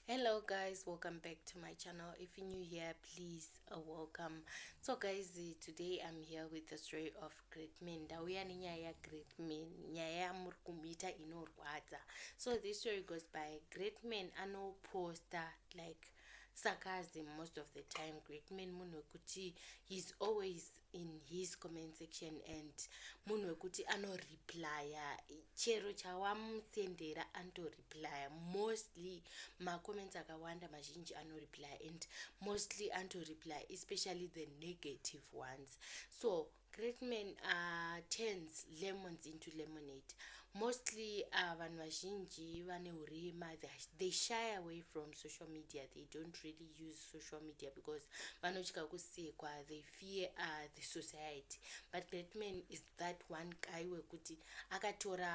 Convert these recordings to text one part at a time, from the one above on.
hello guys welcome back to my channel if you're new here please uh, welcome so guys uh, today i'm here with the story of great men ndauya nenyaya ya great men nyaya yamuri kumuita inorwadza so this story goes by great men anoposta like sarcasm most of the time great man munhu wekuti he's always in his comment section and munhu wekuti anoreplya chero chawamusendera anotoreplya mostly macomments akawanda mazhinji anoreplya and mostly anotoreplya especially the negative ones so great man uh, turns lemons into lemonade mostly uh, vanhu uh, vazhinji vane urema they shy away from social media they don't really use social media because vanotya kusekwa they fear uh, the society but that man is that one guy wekuti akatora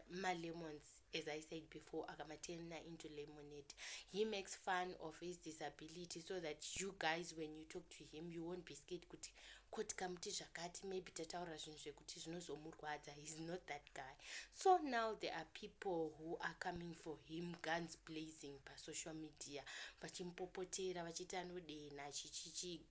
malemons as i said before akamaturna into lemonade he makes fun of his disability so that you guys when you talk to him you won't be scared kuti koti kamuti zvakati maybe tataura zvinhu zvekuti zvinozomurwadza heis not that guy so now there are people who are coming for him guns blazing pasocial media vachimpopotera vachiti anodenha chichichi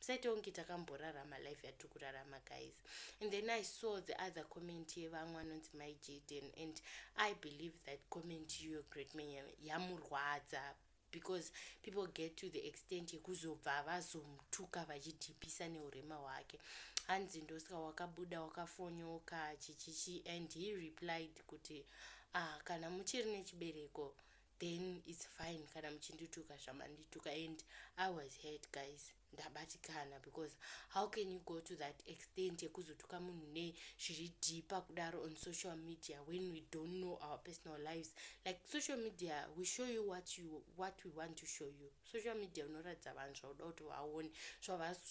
tisaite kunge takamborarama life yatiri kurarama guys and then i saw the other comment yevamwe anonzi mai jaden and i believe that comment iyo great man yamurwadza because people get to the extent yekuzobva vazomutuka vachidhipisa neurema hwake hanzi ndosaka wakabuda wakafonyoka chichichi and he replied kuti ah, kana muchiri nechibereko then its fine kana muchindituka zvamandituka and i was hurt guys ndabatikana because how can you go to that extent yekuzotuka munhu ne zviri deeper kudaro on social media when we don't know our personal lives like social media we show you what you what we want to show you social media unoratidza vanhu zvauda kuti vaone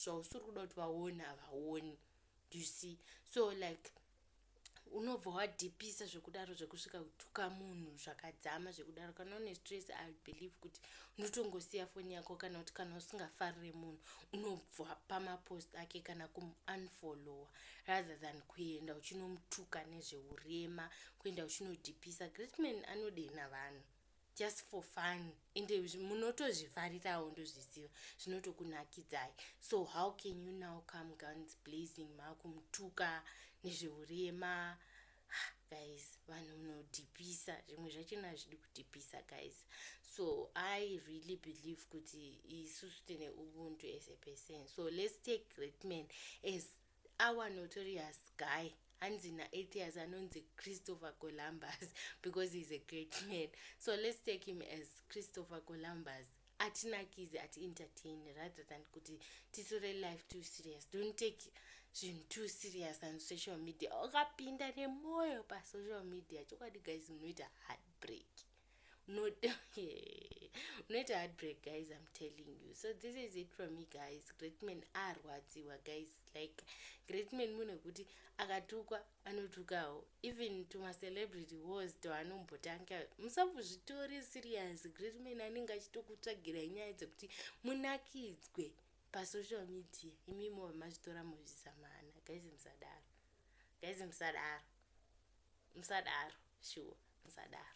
zvausiri kuda kuti vaone havaoni you see so like unobva wadhipisa zvekudaro zvekusvika kutuka munhu zvakadzama zvekudaro kana une stress i believe kuti unotongosiya foni yako kana kuti kana usingafarire munhu unobva pamapost ake kana kumunfollowa rather than kuenda uchinomutuka nezveurema kuenda uchinodhipisa greatman anodenha vanhu just for fun and munotozvifarirawo ndozviziva zvinotokunakidzai so how can you now come guns blazing makumutuka nezveurema guys vanhu munodhipisa zvimwe zvachona hazvidi kudhipisa guys so i really believe kuti isusu tine ubuntu as a person so let's take great man as Our notorious guy hanzi naAtheus anonzi Christopher Columbus because he's a great man. So let's take him as Christopher Columbus. atinakizi ati entertain rather than kuti titore life too serious don't take zvinhu too serious on social media wakapinda nemwoyo pasocial media chokwadi guys munoita heartbreak unoita heartbreak guys im telling you so this is it from me guys great man arwadziwa guys like great man munhu wekuti akatukwa anotukawo even tumacelebrity wars toanombotanga musambozvitori serious great man anenge achitokutsvagira nyaya dzekuti munakidzwe pasocial media imimo vamazvitora muzvisamana guys musadaro guys musadaro musadaro shuwa musadaro